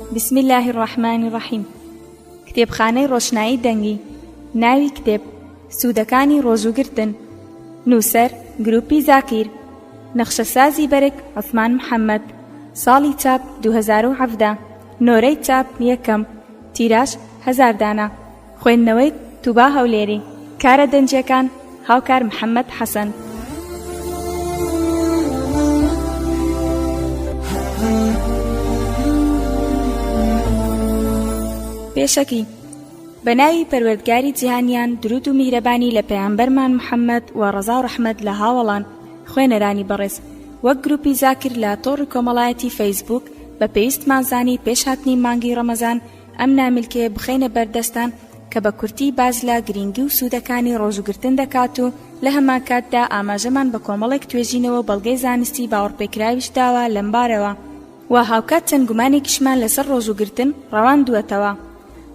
بسم اللە الرحمن الرحیم کتێبخانەی ڕۆشنایی دەنگی ناوی کتێب سوودەکانی ڕۆژووگرتن نووسەر گروپی زاکیر نەخشەسازی بەرگ عثمان محەممەد ساڵی چاپ 2017 نۆرەی چاپ یەکەم تیراش هزار دانە خوێندنەوەی، توبا هەولێری، کارە دەنجیەکان، هاوکار محەمەد حەسەن. پێشەکی، بە ناوی پەروەردگاری جیهانیان درود و میهرەبانی لە پەیامبەرمان محەمەد و ڕەزا و ڕەحمەت لە هاوەڵان خوێنەرانی بەڕێز وەک گروپی زاکر لە تۆڕی کۆمەڵایەتی فەیسبووک بە پێویستمان زانی پێش هاتنی مانگی ڕەمەزان ئەم نامیلکەیە بخەینە بەر دەستان کە بە کورتی باس لە گرینگی و سوودەکانی ڕۆژوگرتن دەکات و لە هەمانکاتدا ئاماژەمان بە کۆمەڵێک توێژینەوە بەڵگەی زانستی باوەڕپێکراویش داوە لەم بارەوە و هاوکات چەند گومانێکیشمان لەسەر ڕۆژوگرتن ڕەواندووەتەوە.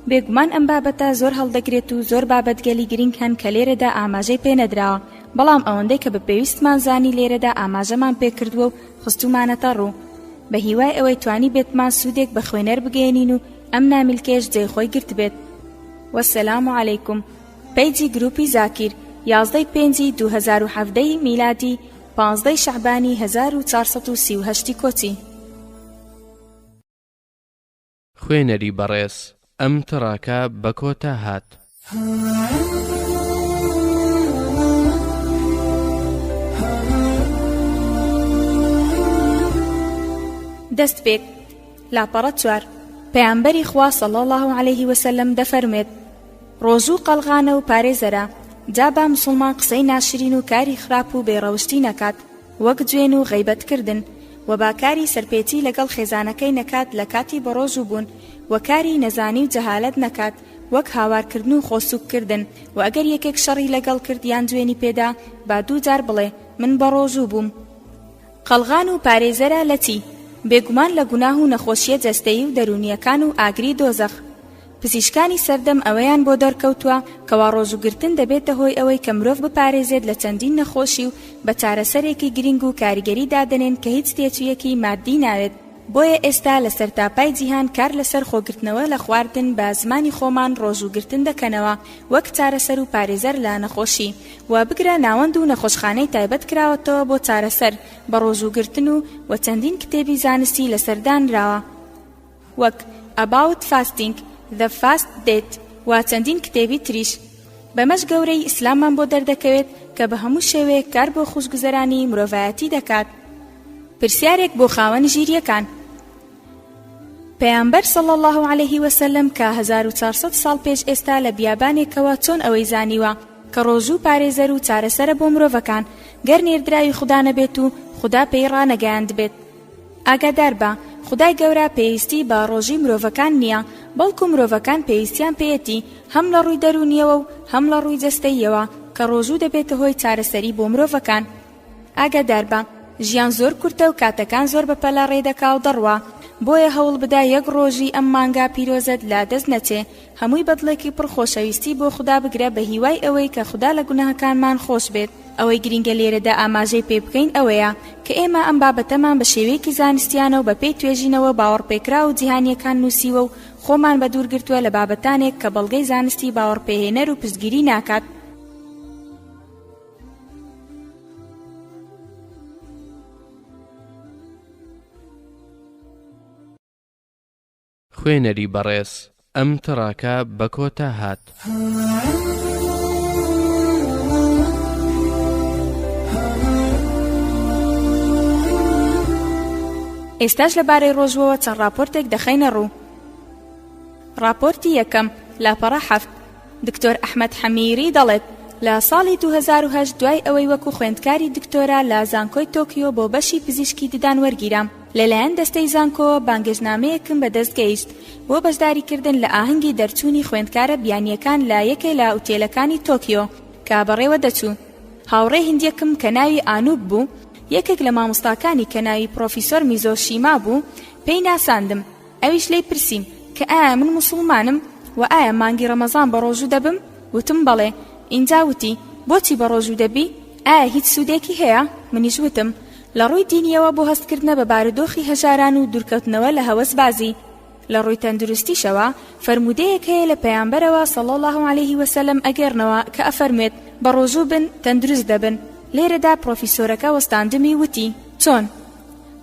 بێگومان ئەم بابەتە زۆر هەڵدەگرێت و زۆر بابەتگەلی گرینگ هەن کە لێرەدا ئاماژەی پێنەدراوە، بەڵام ئەوەندەی کە بە پێویستمان زانی لێرەدا ئاماژەمان پێکردووە و خستوومانەتە ڕوو، بە هیوای ئەوەی توانیبێتمان سوودێک بە خوێنەر بگەیەنین و ئەم نامیلکەیەش جێی خۆی گرتبێت. والسلام علیکم پەیجی گروپی زاکیر یازدەی پێنجی دوو هەزار و حەڤدە ی میلادی پازدەی شەعبانی هەزار و چوار سەد و سی و هەشت ی کۆچی. خوێنەری بەڕێز ئەم تڕاکە بە کۆتا هات. دەستپێک، لاپەڕە چوار، پەیامبەری خوا صلی اللە علیه وسلم دەفەرموێت، ڕۆژوو قەڵغانە و پارێزەرە، جا با مسوڵمان قسەی ناشرین و کاری خراپ و بێڕەوشتی نەکات، وەک جوێن و غەیبەت کردن، وە با کاری سەرپێچی لەگەڵ خێزانەکەی نەکات لە کاتی بەڕۆژوو بوون، وە کاری نەزانی و جەهالەت نەکات وەک هاوار کردن و خۆ سووک کردن، وە ئەگەر یەکێک شەڕی لەگەڵ کرد یان جوێنی پێدا با دوو جار بڵێ من بەڕۆژوو بووم. قەڵغان و پارێزەرە لە چی؟ بێگومان لە گوناه و نەخۆشییە جەستەیی و دەروونییەکان و ئاگری دۆزەخ. پزیشکانی سەردەم ئەوەیان بۆ دەرکەوتووە کەوا ڕۆژووگرتن دەبێتە هۆی ئەوەی کە مرۆڤ بپارێزێت لە چەندین نەخۆشی و بە چارەسەرێکی گرنگ و کاریگەری دادەنێن کە هیچ تێچوویەکی ماددی ناوێت بۆیە ئێستا لە سەرتاپای جیهان کار لەسەر خۆگرتنەوە لە خواردن بە زمانی خۆمان ڕۆژووگرتن دەکەنەوە وەک چارەسەر و پارێزەر لە نەخۆشی و بگرە ناوەند و نەخۆشخانەی تایبەت کراوەتەوە بۆ چارەسەر بە ڕۆژووگرتن و و چەندین کتێبی زانستی لەسەر دانراوە. وەک، About Fasting، The Fast Date، و چەندین کتێبی تریش. بەمەش گەورەیی ئیسلاممان بۆ دەردەکەوێت کە بە هەموو شێوەیەک کار بۆ خوشگوزەرانیی مرۆڤایەتی دەکات. پرسیارێک بۆ خاوەن ژیرییەکان. پەیامبەر صلی اللە علیە وسلم کە هەزار و چوار سەد ساڵ پێش ئێستا لە بیابانێکەوە چۆن ئەوەی زانیوە کە ڕۆژوو پارێزەر و چارەسەرە بۆ مرۆڤەکان گەر نێردراوی خودا نەبێت و خودا پێی ڕانەگەیاندبێت ئاگاداربە خودای گەورە پێویستی بە ڕۆژی مرۆڤەکان نییە بەڵکو مرۆڤەکان پێویستیان پێیەتی هەم لە ڕووی دەروونیەوە و هەم لە ڕووی جەستەییەوە کە ڕۆژوو دەبێتە هۆی چارەسەری بۆ مرۆڤەکان ئاگاداربە ژیان زۆر کورتە و کاتەکان زۆر بەپەلە ڕێدەکا و دەڕوا بۆیە هەوڵبدە یەک ڕۆژی ئەم مانگا پیرۆزەت لە دەست نەچێ هەمووی بەدڵێکی پڕ خۆشەویستی بۆ خودا بگرە بە هیوای ئەوەی کە خودا لە گوناهەکانمان خۆش بێت ئەوەی گرینگە لێرەدا ئاماژەی پێ بکەین ئەوەیە کە ئێمە ئەم بابەتەمان بە شێوەیەکی زانستیانە و بە پێی توێژینەوە باوەڕپێکراو و جیهانیەکان نووسیوە و خۆمان بە دوور گرتووە لە بابەتانێک کە بەڵگەی زانستی باوەڕپێهێنەر و پشتگیری ناکات خوێنەری بەڕێز ئەم تڕاکە بە کۆتا هات. ئێستاش لە بارەی ڕۆژوەوە چەند ڕاپۆرتێک دەخەینە ڕوو ڕاپۆرتی یەکەم لاپەڕە حەفت دکتۆر ئەحمد حەمیری دەڵێت لە ساڵی 2010 دوای ئەوەی وەکو خوێندکاری دکتۆرا لە زانکۆی تۆکیۆ بۆ بەشی پزیشکی ددان وەرگیرام لەلایەن دەستەی زانکۆوە بانگێشنامەیەکم بەدەست گەیشت بۆ بەشداریکردن لە ئاهەنگی دەرچوونی خوێندکارە بیانییەکان لە یەکێ لە ئوتێلەکانی تۆکیۆ کە بەڕێوە دەچوو هاوڕێ هندیەکم کە ناوی ئانووب بوو یەکێک لە مامۆستاکانی کە ناوی پڕۆفیسۆر میزۆ شیما بوو پێی ناساندم ئەویش لێی پرسیم کە ئایا من مسوڵمانم و ئایا مانگی ڕەمەزان بە ڕۆژوو دەبم وتم بەڵێ ئینجا وتی بۆچی بە ڕۆژوو دەبی ئایا هیچ سوودێکی هەیە منیش وتم لە ڕووی دینییەوە بۆ هەستکردنە بە بارودۆخی هەژاران و دوورکەوتنەوە لە هەوەسبازی، لە ڕووی تەندروستیشەوە فەرموودەیەک هەیە لە پەیامبەرەوە صلی اللە علیه وسلم ئەگێڕنەوە کە ئەفەرموێت، بەڕۆژوو بن تەندروست دەبن، لێرەدا پڕۆفیسۆرەکە وەستاندمی وتی، چۆن؟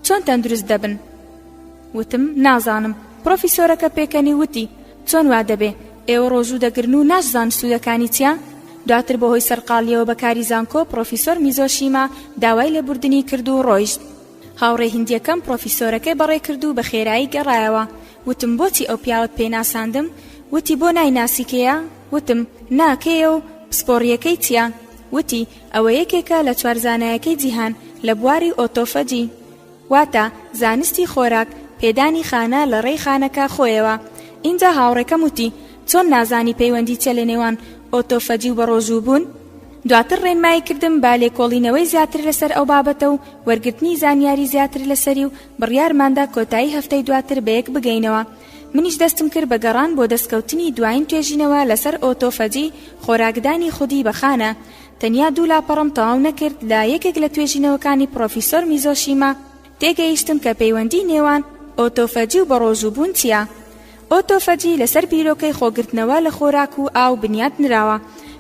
چۆن تەندروست دەبن؟ وتم، نازانم، پڕۆفیسۆرەکە پێکەنی وتی، چۆن وا دەبێ؟ ئێوە ڕۆژوو دەگرن و ناشزان سوودەکانی چیە؟ دواتر بەهۆی سەرقاڵییەوە بە کاری زانکۆ پڕۆفیسۆر میزۆشیما داوای لێبوردنی کرد و ڕۆیشت. هاوڕێ هیندییەکەم پڕۆفیسۆرەکەی بەڕێ کرد و بە خێرایی گەڕایەوە. وتم بۆچی ئەو پیاوەت پێ ناساندم؟ وتی بۆ نایناسی کێیە؟ وتم نا کێیە و پسپۆڕییەکەی چیە؟ وتی ئەوە یەکێکە لە چوار زانایەکەی جیهان لە بواری ئۆتۆفەجی. واتە زانستی خۆراک پێدانی خانە لە ڕێی خانەکە خۆیەوە ئینجا هاوڕێکەم وتی چۆن نازانی پەیوەندی چە لە نێوان ئۆتۆفەجی و بەڕۆژوو بوون دواتر ڕێنمایی کردم با لێکۆڵینەوەی زیاتر لەسەر ئەو بابەتە و وەرگرتنی زانیاری زیاتر لەسەری و بڕیارماندا کۆتایی هەفتەی دواتر بەیەک بگەینەوە منیش دەستم کرد بە گەڕان بۆ دەستکەوتنی دوایین توێژینەوە لەسەر ئۆتۆفەجی خۆراکدانی خودی بە خانە تەنیا دوو لاپەڕەم تەواو نەکرد لە یەکێک لە توێژینەوەکانی پڕۆفیسۆر میزۆشیما تێگەیشتم کە پەیوەندی نێوان ئۆتۆفەجی و بەڕۆژووبوون چییە. ئۆتۆفەجی لەسەر بیرۆکەی خۆگرتنەوە لە خۆراک و ئاو بنیات نراوە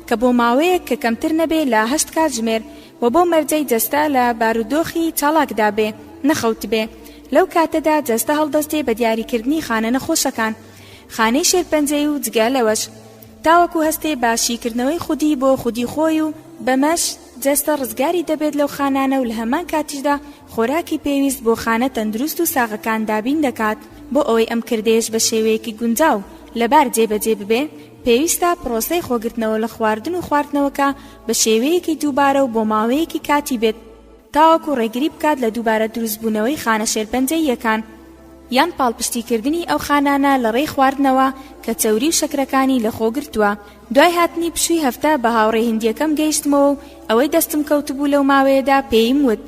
کە بۆ ماوەیەک کە کەمتر نەبێ لە هەشت کاتژمێر و بۆ مەرجەی جەستە لە بارودۆخی چاڵاکدا بێ نەخەوتبێ لەو کاتەدا جەستە هەڵدەستێ بە دیاریکردنی خانە نەخۆشەکان خانەی شێرپەنجەی و جگە لەوەش تاوەکو هەستێ بە شیکردنەوەی خودی بۆ خودی خۆی و بەمەش جەستە ڕزگاری دەبێت لەو خانانە و لە هەمان کاتیشدا خۆراکی پێویست بۆ خانە تەندروست و ساغەکان دابین دەکات، بۆ ئەوەی ئەم کردەیەش بە شێوەیەکی گونجاو لەبار جێبەجێ ببێ پێویستە پرۆسەی خۆگرتنەوە لە خواردن و خواردنەوەکە بە شێوەیەکی دووبارە و بۆ ماوەیەکی کاتی بێت تاوەکو ڕێگری بکات لە دووبارە دروستبوونەوەی خانە شێرپەنجەییەکان. یان پاڵپشتیکردنی ئەو خانانە لە ڕێی خواردنەوە کە چەوری و شەکرەکانی لە خۆ گرتووە. دوای هاتنی پشووی هەفتە بە هاوڕێ هندییەکەم گەیشتمەوە و ئەوەی دەستم کەوتبوو لەو ماوەیەدا پێیم وت،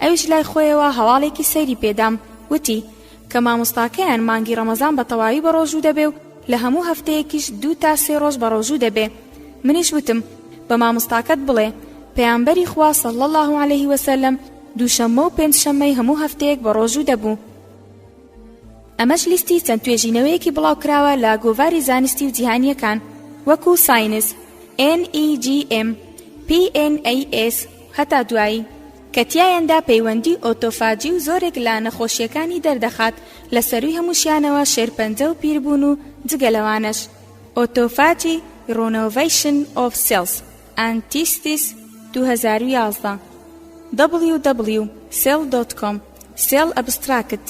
ئەویش لای خۆیەوە هەواڵێکی سەیری پێ دام، وتی، کە مامۆستاکەیان مانگی ڕەمەزان بە تەواوی بەڕۆژوو دەبێ و لە هەموو هەفتەیەکیش دوو تا سێ ڕۆژ بەڕۆژوو دەبێ. منیش وتم، بە مامۆستاکەت بڵێ، پەیامبەری خوا صلی اللە علیه وسلم، دووشەممە و پێنج شەممەی هەموو هەفتەیەک بەڕۆژوو دەبوو. ئەمەش لیستی چەند توێژینەوەیەکی بڵاوکراوە لە گۆڤاری زانستی و جیهانییەکان وەکو ساینس، NEJM، PNAS و هەتا دوایی، کە تیایاندا پەیوەندی ئۆتۆفاجی و زۆرێک لە نەخۆشییەکانی دەردەخات، لە سەرووی هەمووشیانەوە شێرپەنجە و پیربوون و جگە لەوانەش، Autophagy Renovation of Cells، ئانتیستیس، دوو هەزار و یازدە. دەبڵیو دەبڵیو سێڵ دۆت کۆم سێڵ ئەبستراکت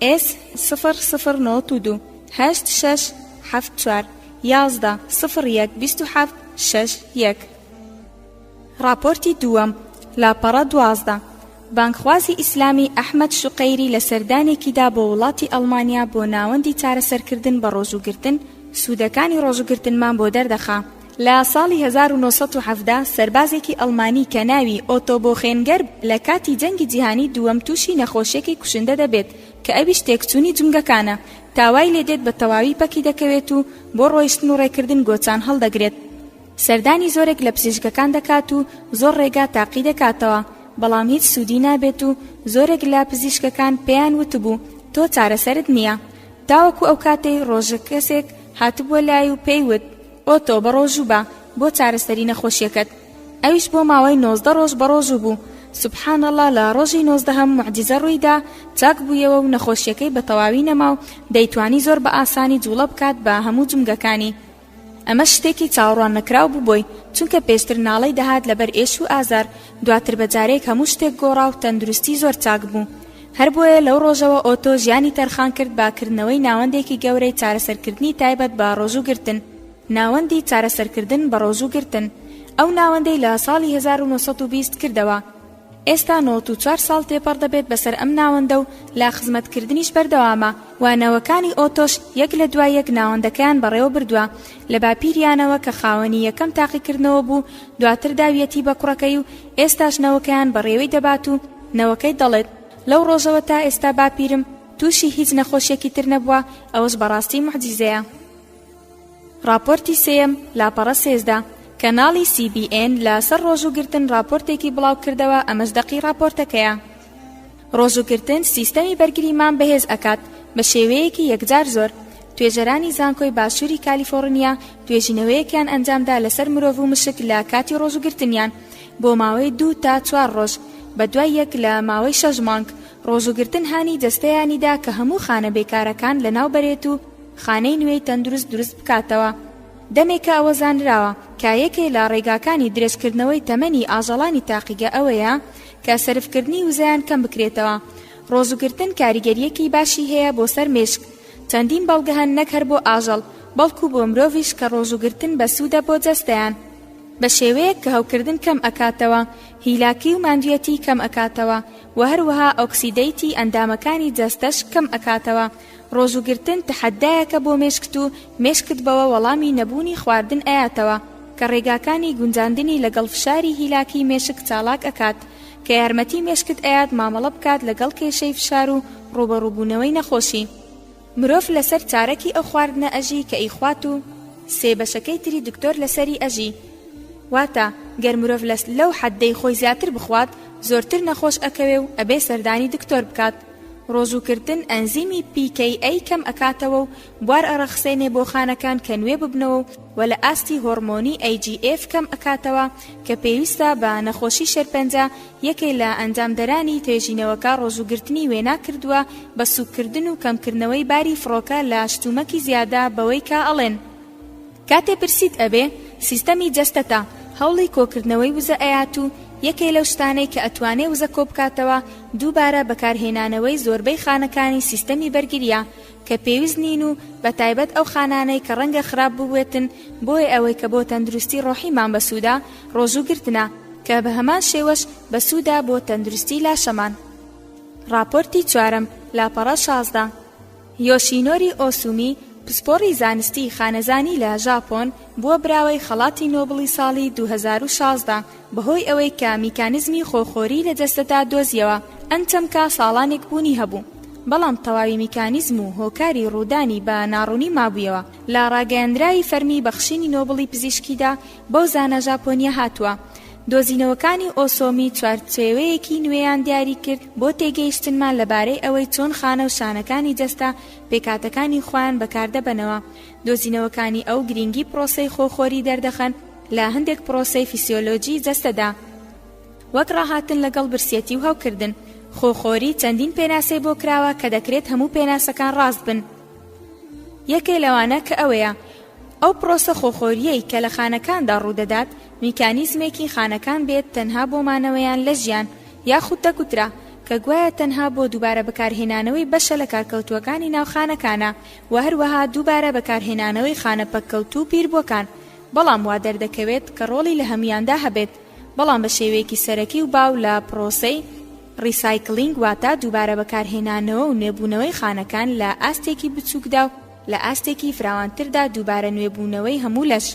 ئێس سفر سفر نۆت و دوو هەشت شەش حەفت چوار یازدە سفر یەک بیست و حەفت شەش یەک ڕاپۆرتی دووەم لاپەڕە دوازدە بانگخوازی ئیسلامی ئەحمەد شوقەیری لە سەردانێکیدا بۆ وڵاتی ئەڵمانیا بۆ ناوەندی چارەسەرکردن بە ڕۆژووگرتن سوودەکانی ڕۆژووگرتنمان بۆ دەردەخا لە ساڵی هەزار و نۆ سەد و حەڤدە سەربازێکی ئەڵمانی کە ناوی ئۆتۆ بۆخێنگەر لە کاتی جەنگی جیهانی دووەم تووشی نەخۆشیەکی کوشندە دەبێت کە ئەویش تێکچوونی جومگەکانە تا وای لێدێت بە تەواوی پەکی دەکەوێت و بۆ ڕۆیشتن و ڕێکردن گۆچان هەڵدەگرێت سەردانی زۆرێک لە پزیشکەکان دەکات و زۆر ڕێگا تاقی دەکاتەوە بەڵام هیچ سوودی نابێت و زۆرێک لە پزیشکەکان پێیان وتبوو تۆ چارەسەرت نییە تاوەکو ئەو کاتەی ڕۆژە کەسێک هاتبووە لای و پێی وت ئۆتۆ بەڕۆژوو بە بۆ چارەسەری نەخۆشیەکەت ئەویش بۆ ماوەی نۆزدە ڕۆژ بەڕۆژوو بوو سبحان اللە لە ڕۆژی نۆزدەهەم موعجیزە ڕوویدا چاک بوویەوە و نەخۆشیەکەی بە تەواوی نەما و دەیتوانی زۆر بە ئاسانی جوڵە بکات بە هەموو جومگەکانی ئەمە شتێکی چاوەڕوان نەکراو بوو بۆی چونکە پێشتر ناڵەی دەهات لەبەر ئێش و ئازار دواتر بە جارێک هەموو شتێک گۆڕا و تەندروستی زۆر چاک بوو هەر بۆیە لەو ڕۆژەوە ئۆتۆ ژیانی تەرخان کرد بە کردنەوەی ناوەندێکی گەورەی چارەسەرکردنی تایبەت بە ڕۆژوو گرتن، ناوەندی چارەسەرکردن بە ڕۆژوو گرتن، ئەو ناوەندەی لە ساڵی هەزار و نۆ سەد و بیست کردەوە، ئێستا نۆت و چوار ساڵ تێپەڕ دەبێت بەسەر ئەم ناوەندە و لە خزمەتکردنیش بەردەوامە و نەوەکانی ئۆتۆش یەک لە دوای یەک ناوەندەکەیان بەڕێوە بردووە لە باپیریانەوە کە خاوەنی یەکەم تاقیکردنەوە بوو دواتر داویەتی بە کوڕەکەی و ئێستاش نەوەکەیان بەڕێوەی دەبات و نەوەکەی دەڵێت، لەو ڕۆژەوە تا ئێستا باپیرم تووشی هیچ نەخۆشیەکی تر نەبووە، ئەوەش بەڕاستی موعجیزەیە. ڕاپۆرتی سێیەم، لاپەڕە سێزدە، کەناڵی سی بی ئێن لە سەر ڕۆژووگرتن ڕاپۆرتێکی بڵاوکردەوە ئەمەش دەقی ڕاپۆرتەکەیە. ڕۆژوو گرتن سیستەمی بەرگریمان بەهێز ئەکات بە شێوەیەکی یەکجار زۆر توێژەرانی زانکۆی باشووری کالیفۆڕنیا توێژینەوەیەکیان ئەنجامدا لەسەر مرۆڤ و مشک لە کاتی ڕۆژوگرتنیان بۆ ماوەی دوو تا چوار ڕۆژ بە دوای یەک لە ماوەی شەش مانگ ڕۆژوگرتن هانی جەستەیانیدا کە هەموو خانە بێکارەکان لەناو بەرێت و خانەی نوێی تەندروست دروست بکاتەوە دەمێکە ئەوە زانراوە کە یەکێ لە ڕێگاکانی درێژکردنەوەی تەمەنی ئاژەڵانی تاقیگە ئەوەیە کە سەرفکردنی وزەیان کەم بکرێتەوە ڕۆژوگرتن کاریگەریەکی باشی هەیە بۆ سەر مێشک چەندین بەڵگە هەن نەک هەر بۆ ئاژەڵ بەڵکو بۆ مرۆڤش کە ڕۆژوگرتن بەسوودە بۆ جەستەیان بە شێوەیەک کە هەوکردن کەم ئەکاتەوە هیلاکی و ماندویەتی کەم ئەکاتەوە و هەروەها ئۆکسیدەیتی ئەندامەکانی جەستەش کەم ئەکاتەوە ڕۆژوو گرتن تەحەدایەکە بۆ مێشکت و مێشکت بەوە وەڵامی نەبوونی خواردن ئەیاتەوە کە ڕێگاکانی گونجاندنی لەگەڵ فشاری هیلاکی مێشک چاڵاک ئەکات کە یارمەتی مێشکت ئەیات مامەڵە بکات لەگەڵ کێشەی فشار و ڕووبەڕووبوونەوەی نەخۆشی مرۆڤ لەسەر چارەکی ئەو خواردنە ئەژی کە ئیخوات و سێ بەشەکەی تری دکتۆر لەسەری ئەژی واتە گەر مرۆڤ لەو حەددەی خۆی زیاتر بخوات زۆرتر نەخۆش ئەکەوێ و ئەبێ سەردانی دکتۆر بکات. ڕۆژووکردن ئەنزیمی pKa کەم ئەکاتەوە و بوار ئەڕەخسێنێ بۆ خانەکان کە نوێ ببنەوە و وە لە ئاستی هۆڕمۆنی AGF کەم ئەکاتەوە کە پێویستە بە نەخۆشی شێرپەنجە یەکێ لە ئەنجامدەرانی توێژینەوەکە ڕۆژووگرتنی وێنا کردووە بە سووککردن و کەمکردنەوەی باری فڕۆکە لە شتومەکی زیادە بەوەی کە ئەڵێن کاتێ برسیت ئەبێ سیستەمی جەستەتە هەوڵی کۆکردنەوەی وزە ئەیات و یەکێ لەو شتانەی کە ئەتوانێ وزە کۆبکاتەوە دووبارە بەکارهێنانەوەی زۆربەی خانەکانی سیستەمی بەرگرییە کە پێویست نین و بە تایبەت ئەو خانانەی کە ڕەنگە خراپ بووێتن بۆی ئەوەی کە بۆ تەندروستی ڕۆحیمان بەسوودە ڕۆژوو گرتنە کە بە هەمان شێوەش بەسوودە بۆ تەندروستی لاشەمان. ڕاپۆرتی چوارەم، لاپەڕە شازدە. یۆشینۆری ئۆسومی، پسپۆڕی زانستیی خانەزانی لە ژاپۆن، بووە براوەی خەڵاتی نۆبڵی ساڵی دوو هەزار و شازدە، بەهۆی ئەوەی کە میکانیزمی خۆخۆری لە جەستەدا دۆزییەوە، ئەم چەمکە ساڵانێک بوونی هەبوو، بەڵام تەواوی میکانیزم و هۆکاری ڕوودانی بە ناڕوونی مابوویەوە، لە ڕاگەیەندراوی فەرمی بەخشینی نۆبڵی پزیشکیدا، بەو زانا ژاپۆنیە هاتووە. دۆزینەوەکانی ئۆسۆمی چوارچێوەیەکی نوێیان دیاری کرد بۆ تێگەیشتنمان لەبارەی ئەوەی چۆن خانە و شانەکانی جەستە پێکهاتەکانی خۆیان بەکاردەبەنەوە. دۆزینەوەکانی ئەو گرینگی پرۆسەی خۆخۆری دەردەخەن لە هەندێک پرۆسەی فیسیۆلۆجی جەستەدا، وەک ڕاهاتن لەگەڵ برسیەتی و هەوکردن. خۆخۆری چەندین پێناسەی بۆ کراوە کە دەکرێت هەموو پێناسەکان ڕاست بن. یەکێ لەوانە کە ئەوەیە، ئەو پڕۆسە خۆخۆرییەی کە لە خانەکاندا ڕوودەدات میکانیزمێکی خانەکان بێت تەنها بۆ مانەوەیان لە ژیان، یاخود دەگوترا کە گوایە تەنها بۆ دووبارە بەکارهێنانەوەی بەشە لە کارکەوتووەکانی ناو خانەکانە و هەروەها دووبارە بەکارهێنانەوەی خانە پەککەوتوو و پیربووەکان بەڵام وا دەردەکەوێت کە ڕۆڵی لە هەموویاندا هەبێت بەڵام بە شێوەیەکی سەرەکی و باو لە پڕۆسەی ڕیسایکلینگ واتە دووبارە بەکارهێنانەوە و نوێبوونەوەی خانەکان لە ئاستێکی بچووکدا و لە ئاستێکی فراوانتردا دووبارە نوێبوونەوەی هەموو لەش.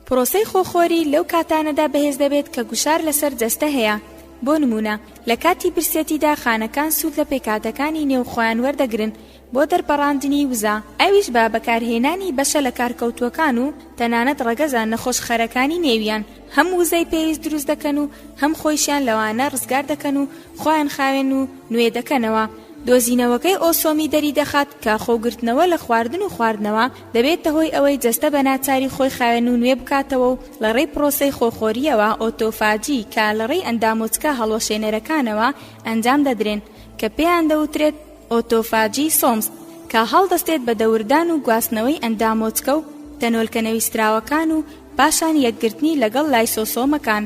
پرۆسەی خۆخۆری لەو کاتانەدا بەهێز دەبێت کە گوشار لەسەر جەستە هەیە، بۆ نموونە لە کاتی برسێتیدا خانەکان سوود لە پێکهاتەکانی نێو خۆیان وەردەگرن بۆ دەرپەڕاندنی وزە، ئەویش بە بەکارهێنانی بەشە لەکارکەوتووەکان و تەنانەت ڕەگەزە نەخۆشخەرەکانی نێویان. هەم وزەی پێویست دروست دەکەن و هەم خۆیشیان لەوانە ڕزگار دەکەن و خۆیان خاوێن و نوێ دەکەنەوە دۆزینەوەکەی ئۆسۆمی دەری دەخات کە خۆگرتنەوە لە خواردن و خواردنەوە دەبێتە هۆی ئەوەی جەستە بە ناچاری خۆی خاوێن و نوێ بکاتەوە و لە ڕێی پرۆسەی خۆخۆریەوە ئۆتۆفاجی کە لە ڕێی ئەندامۆچکە هەڵوەشێنەرەکانەوە ئەنجام دەدرێن کە پێیان دەوترێت ئۆتۆفاجی سۆمز، کە هەڵدەستێت بە دەوردان و گواستنەوەی ئەندامۆچکە و تەنۆلکە نەویستراوەکان و پاشان یەکگرتنی لەگەڵ لایسۆسۆمەکان.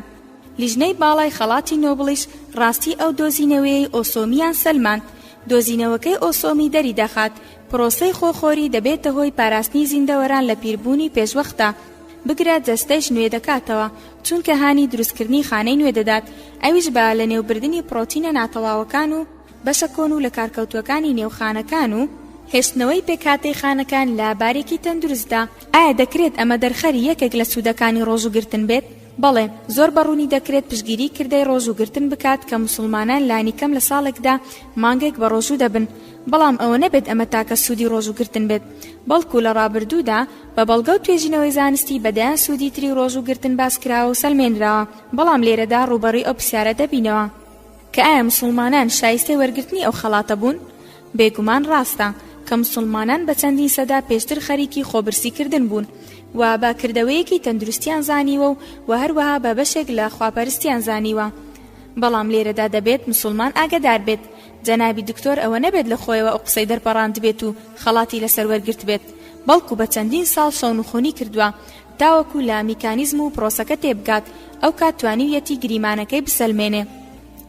لیژنەی باڵای خەڵاتی نۆبڵیش ڕاستی ئەو دۆزینەوەیەی ئۆسۆمییان سەلماند، دۆزینەوەکەی ئۆسۆمی دەریدەخات پرۆسەی خۆخۆری دەبێتە هۆی پاراستنی زیندەوەران لە پیربوونی پێشوەختە، بگرە جەستەیش نوێ دەکاتەوە، چونکە هانی دروستکردنی خانەی نوێ دەدات، ئەویش بە لەنێوبردنی پڕۆتینە ناتەواوەکان و. بەشە کۆن و لەکارکەوتووەکانی نێو خانەکان و هێشتنەوەی پێکهاتەی خانەکان لە بارێکی تەندروستدا ئایا دەکرێت ئەمە دەرخەری یەکێک لە سوودەکانی ڕۆژوو گرتن بێت؟ بەڵێ، زۆر بە ڕوونی دەکرێت پشتگیری کردەی ڕۆژوو گرتن بکات کە موسڵمانان لانیکەم لە ساڵێکدا مانگێک بە ڕۆژوو دەبن، بەڵام ئەوە نەبێت ئەمە تاکە سوودی ڕۆژوو گرتن بێت، بەڵکو لە ڕابردوودا بە بەڵگە و توێژینەوەی زانستی بە دەیان سوودی تری ڕۆژوو گرتن باس کراوە و سەلمێنراوە، بەڵام لێرەدا ڕووبەڕووی ئەو پرسیارە دەبینەوە. کە ئایا موسڵمانان شایستەی وەرگرتنی ئەو خەڵاتە بوون؟ بێگومان ڕاستە کە موسڵمانان بە چەندین سەدا پێشتر خەریکی خۆبرسیکردن بوون و بە کردەوەیەکی تەندروستیان زانیوە و و هەروەها بە بەشێک لە خواپەرستیان زانیوە بەڵام لێرەدا دەبێت مسلمان ئاگەدار بێت جەنابی دکتۆر ئەوە نەبێت لە خۆیەوە ئەو قسەی دەرپەڕاندبێت و خەڵاتی لەسەر وەرگرتبێت بەڵکو بە چەندین ساڵ شەونخونی کردووە تاوەکو لە میکانیزم و پرۆسەکە تێبگات ئەوکات توانیویەتی گریمانەکەی بسەلمێنێ.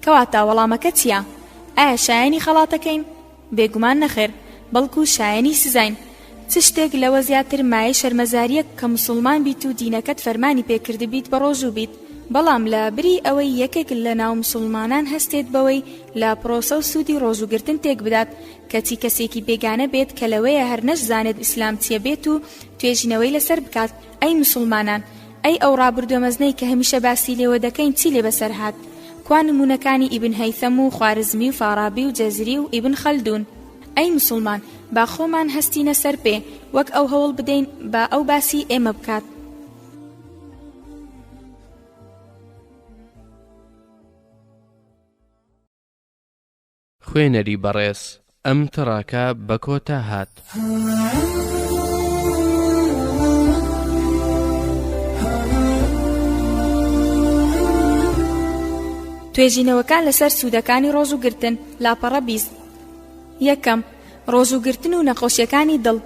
کەواتە وەڵامەکە چییە؟ ئایا شایەنی خەڵاتەکەین؟ بێگومان نەخێر، بەڵکو شایەنی سزاین. چ شتێک لەوە زیاتر مایەی شەرمەزارییە کە موسوڵمان بیت و دینەکەت فەرمانی پێ کردبیت بەڕۆژوو بیت، بەڵام لە بری ئەوەی یەکێک لە ناو موسوڵمانان هەستێت بەوەی لە پرۆسە و سوودی ڕۆژووگرتن تێکبدات، کەچی کەسێکی بێگانە بێت کە لەوەیە هەر نەشزانێت ئیسلام چییە بێت و توێژینەوەی لەسەر بکات، ئەی مسوڵمانان، ئەی ئەو ڕابردووە مەزنەی کە هەمیشە باسی لێوە دەکەین چی لێ بەسەر هات؟ کوا نموونەکانی ئیبن هەیثەم و خوارزمی و فارابی و جەزری و ئیبن خەلدوون؟ ئەی مسوڵمان، با خۆمان هەستینە سەر پێ، وەک ئەو هەوڵ بدەین با ئەو باسی ئێمە بکات. خوێنەری بەڕێز ئەم تڕاکە بە کۆتا هات. توێژینەوەکان لەسەر سوودەکانی ڕۆژوو گرتن لاپەڕە بیست یەکەم ڕۆژوو گرتن و نەخۆشیەکانی دڵ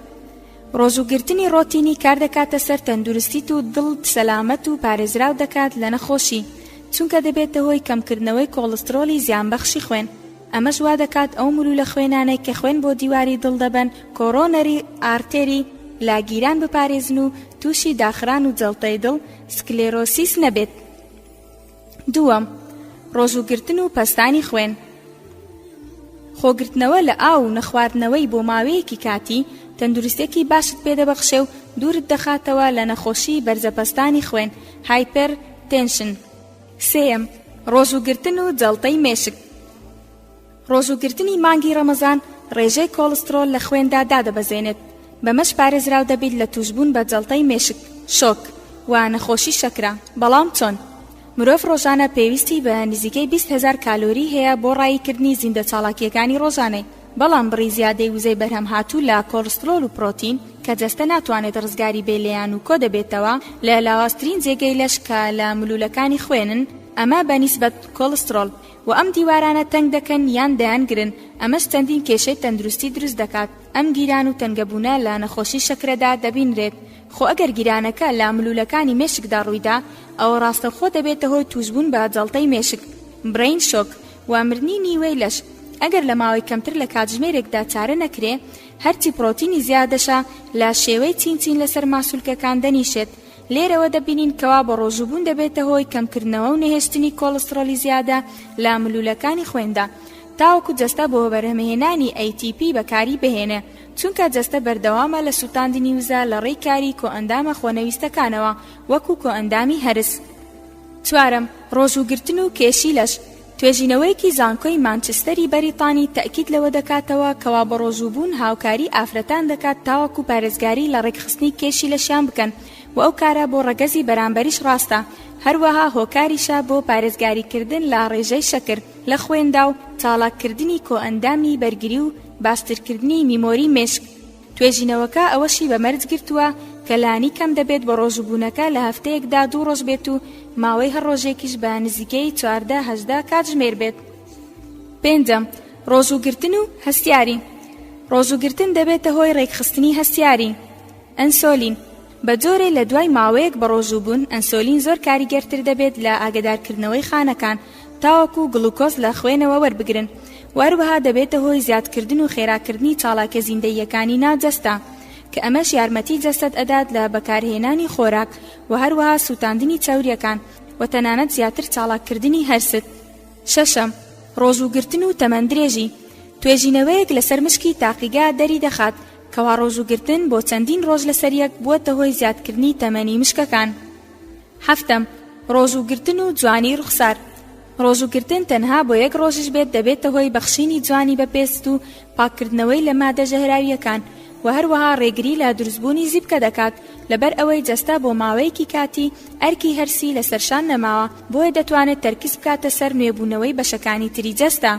ڕۆژوو گرتنی ڕۆتینی کار دەکاتە سەر تەندروستیت و دڵت سەلامەت و پارێزراو دەکات لە نەخۆشی چونکە دەبێتە هۆی کەمکردنەوەی کۆڵسترۆلی زیانبەخشی خوێن ئەمەش وا دەکات ئەو ملولە خوێنانەی کە خوێن بۆ دیواری دڵ دەبەن کۆرۆنەری ئارتێری لاگیران بپارێزن و تووشی داخران و جەڵتەی دڵ سکلێرۆسیس نەبێت. دووەم، ڕۆژووگرتن و پەستانی خوێن. خۆگرتنەوە لە ئاو و نەخواردنەوەی بۆ ماوەیەکی کاتی تەندروستێکی باشت پێدەبەخشێ و دوورت دەخاتەوە لە نەخۆشی بەرزە پەستانی خوێن، هایپەر تێنشن. سێیەم، ڕۆژووگرتن و جەڵتەی مێشک. ڕۆژووگرتنی مانگی ڕەمەزان ڕێژەی کۆڵسترۆڵ لە خوێندا دادەبەزێنێت، بەمەش پارێزراو دەبیت لە تووشبوون بە جەڵتەی مێشک، شۆک، و نەخۆشی شەکرە، بەڵام چۆن؟ مرۆڤ ڕۆژانە پێویستی بە نزیکەی بیست هەزار کالۆری هەیە بۆ ڕاییکردنی زیندە چاڵاکییەکانی ڕۆژانەی، بەڵام بڕی زیادەی وزەی بەرهەمهاتوو لە کۆڵسترۆڵ و پرۆتین کە جەستە ناتوانێت ڕزگاری بێ لێیان و کۆدەبێتەوە لە لاوازترین جێگەی لەش کە لە ملوولەکانی خوێنن، ئەمە بەنیسبەت کۆڵسترۆڵ. و ئەم دیوارانە تەنگ دەکەن یان دەیانگرن، ئەمەش چەندین کێشەی تەندروستی دروست دەکات، ئەم گیران و تەنگەبوونە لە نەخۆشی شەکرەدا دەبینرێت، خۆ ئەگەر گیرانەکە لە ملوولەکانی مێشکدا ڕوویدا ئەوە ڕاستەوخۆ دەبێتە هۆی تووشبوون بە جەڵتەی مێشک، Brain Shock، و مردنی نیوەی لەش، ئەگەر لە ماوەی کەمتر لە کاتژمێرێکدا چارە نەکرێ، هەرچی پڕۆتینی زیادەشە لە شێوەی چین چین لەسەر ماسولکەکان دەنیشێت، لێرەوە دەبینین کەوا بەڕۆژووبوون دەبێتە هۆی کەمکردنەوە و نەهێشتنی کۆڵستڕۆڵی زیادە لە ملوولەکانی خوێندا تاوەکو جەستە بۆ بەرهەمهێنانی ATP بەکاری بهێنێ چونکە جەستە بەردەوامە لە سووتاندنی وزە لە ڕێی کاری کۆئەندامە خۆنەویستەکانەوە وەکو کۆئەندامی هەرس چوارەم ڕۆژووگرتن و کێشی لەش توێژینەوەیەکی زانکۆی مانچستەری بەریتانی تەئکید لەوە دەکاتەوە کەوا بەڕۆژووبوون هاوکاری ئافرەتان دەکات تاوەکو پارێزگاری لە ڕێکخستنی کێشی لەشیان بکەن و ئەو کارە بۆ ڕەگەزی بەرامبەریش ڕاستە هەروەها هۆکاریشە بۆ پارێزگاریکردن لە ڕێژەی شەکر لە خوێندا و چاڵاککردنی کۆئەندامی بەرگری و باشترکردنی میمۆری مێشک. توێژینەوەکە ئەوەشی بە مەرج گرتووە کە لانی کەم دەبێت بەڕۆژووبوونەکە لە هەفتەیەکدا دوو ڕۆژ بێت و ماوەی هەر ڕۆژێکیش بە نزیکەی چواردە هەژدە کاتژمێر بێت. پێنجەم، ڕۆژووگرتن و هەستیاری. ڕۆژووگرتن دەبێتە هۆی ڕێکخستنی هەستیاری، ئەنسۆلین، بە جۆرێ لە دوای ماوەیەک بەڕۆژوو بوون ئەنسۆلین زۆر کاریگەرتر دەبێت لە ئاگەدارکردنەوەی خانەکان تاوەکو گڵوکۆز لە خوێنەوە وەربگرن و هەروەها دەبێتە هۆی زیادکردن و خێراکردنی چاڵاکیە زیندەییەکانی ناو جەستە کە ئەمەش یارمەتی جەستەت ئەدات لە بەکارهێنانی خۆراک و هەروەها سووتاندنی چەوریەکان و تەنانەت زیاتر چاڵاککردنی هەرست شەشەم ڕۆژووگرتن و تەمەندرێژی توێژینەوەیەک لەسەر مشکی تاقیگە دەریدەخات کەوا ڕۆژوو گرتن بۆ چەندین ڕۆژ لەسەر یەک بووەتە هۆی زیادکردنی تەمەنی مشکەکان حەفتەم ڕۆژوو گرتن و جوانی ڕوخسار ڕۆژوو گرتن تەنها بۆ یەک ڕۆژش بێت دەبێتە هۆی بەخشینی جوانی بە پێست و پاککردنەوەی لە مادە ژەهراویەکان و هەروەها ڕێگری لە دروستبوونی زیپکە دەکات لەبەر ئەوەی جەستە بۆ ماوەیەکی کاتی ئەرکی هەرسی لەسەرشان نەماوە بۆیە دەتوانێت تەرکیز بکاتە سەر نوێبوونەوەی بەشەکانی تری جەستە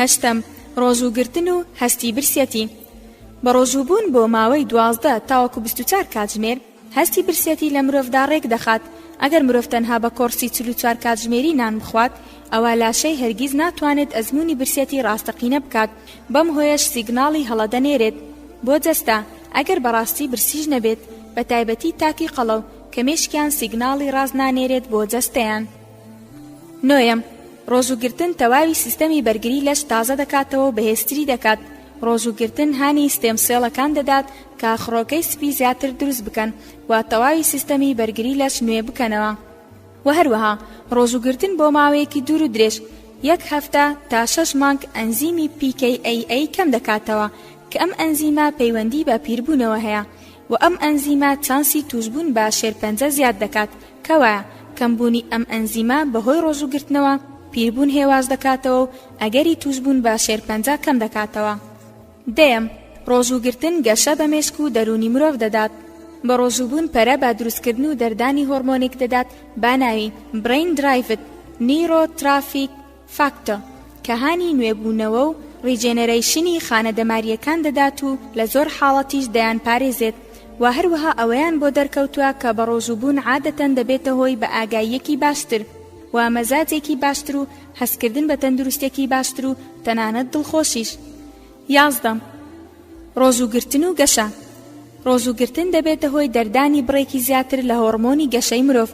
هەشتەم، ڕۆژوو گرتن و هەستی برسیەتی، بە ڕۆژوو بوون بۆ ماوەی دوازدە تاوەکو بیست و چوار کاتژمێر هەستی برسیەتی لە مرۆڤدا ڕێک دەخات، ئەگەر مرۆڤ تەنها بە کۆڕسی چل و چوار کاتژمێری نان بخوات ئەوا لاشەی هەرگیز ناتوانێت ئەزموونی برسیەتی ڕاستەقینە بکات بەم هۆیەش سیگناڵی هەڵە دەنێرێت بۆ جەستە ئەگەر بەڕاستی برسیش نەبێت بەتایبەتی تاکی قەڵەو کە مێشکیان سیگناڵی ڕاست نانێرێت بۆ جەستەیان. نۆیەم، ڕۆژووگرتن تەواوی سیستەمی بەرگری لەش تازە دەکاتەوە و بەهێزتری دەکات، ڕۆژووگرتن هانی ستێم سێڵەکان دەدات کە خڕۆکەی سپی زیاتر دروست بکەن و تەواوی سیستەمی بەرگری لەش نوێ بکەنەوە و هەروەها ڕۆژووگرتن بۆ ماوەیەکی دوور و درێژ یەک هەفتە تا شەش مانگ ئەنزیمی PKAA کەم دەکاتەوە کە ئەم ئەنزیمە پەیوەندی بە پیربوونەوە هەیە و ئەم ئەنزیمە چانسی تووشبوون بە شێرپەنجە زیاد دەکات کەوایە کەمبوونی ئەم ئەنزیمە بەهۆی ڕۆژووگرتنەوە، پیربوون هێواش دەکاتەوە و ئەگەری تووشبوون بە شێرپەنجە کەم دەکاتەوە. دەیەم، ڕۆژووگرتن گەشە بە مێشک و دەروونی مرۆڤ دەدات. بەڕۆژووبوون پەرە بە دروستکردن و دەردانی هۆڕمۆنێک دەدات بە ناوی Brain-Derived Neurotrophic فاکتۆ، کە هانی نوێبوونەوە و ڕیجێنێرەیشنی خانە دەمارییەکان دەدات و لە زۆر حاڵەتیش دەیانپارێزێت و هەروەها ئەوەیان بۆ دەرکەوتووە کە بەڕۆژووبوون عادەتەن دەبێتە هۆی بەئاگاییەکی باشتر و مەزاجێکی باشتر و هەستکردن بە تەندروستێکی باشتر و تەنانەت دڵخۆشیش یازدە، ڕۆزوو گرتن و گەشە ڕۆزوو گرتن دەبێتە هۆی دەردانی بڕێکی زیاتر لە هۆڕمۆنی گەشەی مرۆڤ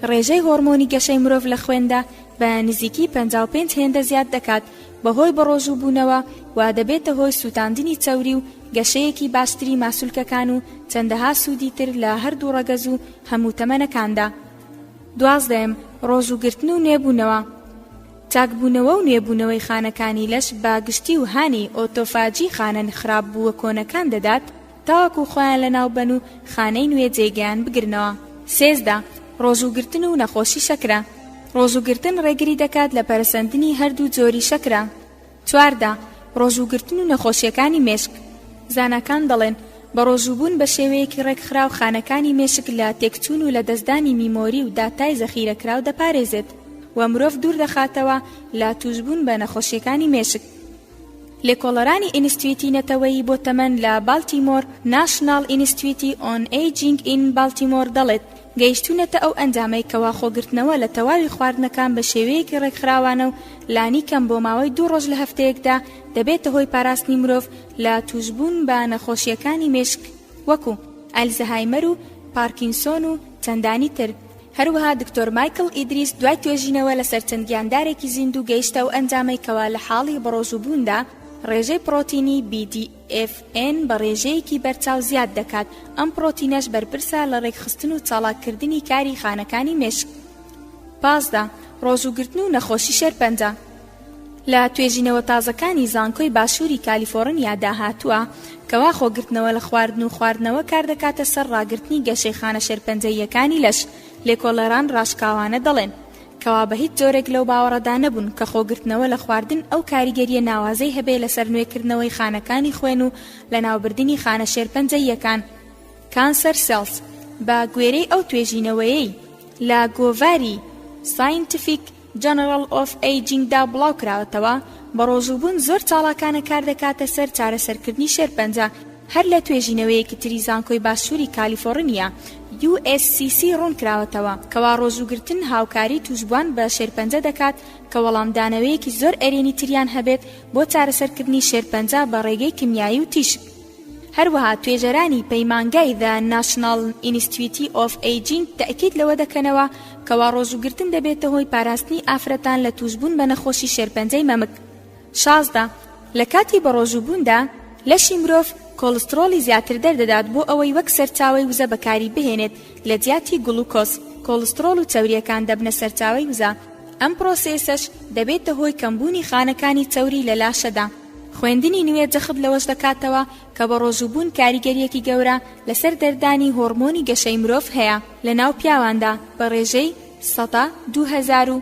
ڕێژەی هۆڕمۆنی گەشەی مرۆڤ لە خوێندا بە نزیکی 55 هێندە زیاد دەکات بەهۆی بەڕۆژوو بوونەوە و دەبێتە هۆی سووتاندنی چەوری و گەشەیەکی باشتری ماسولکەکان و چەندەها سوودی تر لە هەردوو ڕەگەز و هەموو تەمەنەکاندا دوازدەم ڕۆزوو گرتن و نوێبوونەوە چاکبوونەوە و نوێبوونەوەی خانەکانی لەش بە گشتی و هانی ئۆتۆفاجی خانە خراپ بووە کۆنەکان دەدات تاوەکو خۆیان لەناوبەن و خانەی نوێ جێگەیان بگرنەوە سێزدە ڕۆژوو گرتن و نەخۆشی شەکرە ڕۆژوو گرتن ڕێگری دەکات لە پەرەسەندنی هەردوو جۆری شەکرە. چواردە، ڕۆژووگرتن و نەخۆشییەکانی مێشک. زاناکان دەڵێن، بەڕۆژووبوون بەشێوەیەکی ڕێکخراو خانەکانی مێشک لە تێکچوون و لەدەستدانی میمۆری و داتای زەخیرەکراو دەپارێزێت و مرۆڤ دووردەخاتەوە لە تووشبوون بە نەخۆشییەکانی مێشک. لێکۆڵەرانی ئینستتیوتی نەتەوەیی بۆ تەمەن لە بالتیمۆر، National Institute on Aging in Baltimore، دەڵێت، گەیشتوونەتە ئەو ئەنجامەی کەوا خۆگرتنەوە لە تەواوی خواردنەکان بە شێوەیەکی ڕێکخراوانە و لانی کەم بۆ ماوەی دوو ڕۆژ لە هەفتەیەکدا دەبێتە هۆی پاراستنی مرۆڤ لە تووشبوون بە نەخۆشییەکانی مێشک وەکوو ئەلزەهایمەر و پارکینسۆن و چەندانی تر. هەروەها دکتۆر مایکڵ ئیدریس دوای توێژینەوە لەسەر چەند گیاندارێکی زیندوو گەیشتە ئەو ئەنجامەی کەوا لە حاڵی بەڕۆژووبووندا ڕێژەی پڕۆتینی، BDNF، FN، بە ڕێژەیەکی بەرچاو زیاد دەکات، ئەم پڕۆتینەش بەرپرسە لە ڕێکخستن و چاڵاککردنی کاری خانەکانی مێشک. پازدە، ڕۆژووگرتن و نەخۆشی شێرپەنجە. لە توێژینەوە تازەکانی زانکۆی باشووری کالیفۆڕنیادا هاتووە، کەوا خۆگرتنەوە لە خواردن و خواردنەوە کاردەکاتە سەر ڕاگرتنی گەشەی خانە شێرپەنجەییەکانی لەش، لێکۆڵەران ڕاشکاوانە دەڵێن، کەوا بە هیچ جۆرێک لەو باوەڕەدا نەبوون کە خۆگرتنەوە لە خواردن ئەو کاریگەرییە ناوازەی هەبێ لەسەر نوێکردنەوەی خانەکانی خوێن و لەناوبردنی خانە شێرپەنجەییەکان Cancer Cells بە گوێرەی ئەو توێژینەوەیەی لە گۆڤاری Scientific General of Aging دا بڵاو کراوەتەوە بەڕۆژووبوون زۆر چاڵاکانە کاردەکاتە سەر چارەسەرکردنی شێرپەنجە هەر لە توێژینەوەیەکی تری زانکۆی باشووری کالیفۆڕنیا، USCC، ڕوونکراوەتەوە، کەوا ڕۆژووگرتن هاوکاری تووشبوان بە شێرپەنجە دەکات کە وەڵامدانەوەیەکی زۆر ئەرێنی تریان هەبێت بۆ چارەسەرکردنی شێرپەنجە بە ڕێگەی کیمیایی و تیشک. هەروەها توێژەرانی پەیمانگای The National Institute of Aging تەئکید لەوە دەکەنەوە کەوا ڕۆژووگرتن دەبێتە هۆی پاراستنی ئافرەتان لە تووشبوون بە نەخۆشی شێرپەنجەی مەمک. شازدە، لە کاتی بەڕۆژووبووندا لەشی مرۆڤ کۆڵستڕۆڵی زیاتر دەردەدات بۆ ئەوەی وەک سەرچاوەی وزە بەکاری بهێنێت لە جیاتی گڵوکۆز، کۆڵستڕۆڵ و چەورییەکان دەبنە سەرچاوەی وزە، ئەم پڕۆسێسەش دەبێتە هۆی کەمبوونی خانەکانی چەوری لە لاشەدا. خوێندنی نوێ جەخت لەوەش دەکاتەوە کە بەڕۆژووبوون کاریگەرییەکی گەورە لەسەر دەردانی هۆڕمۆنی گەشەی مرۆڤ هەیە لە ناو پیاواندا بە ڕێژەی سەدا دوو هەزار و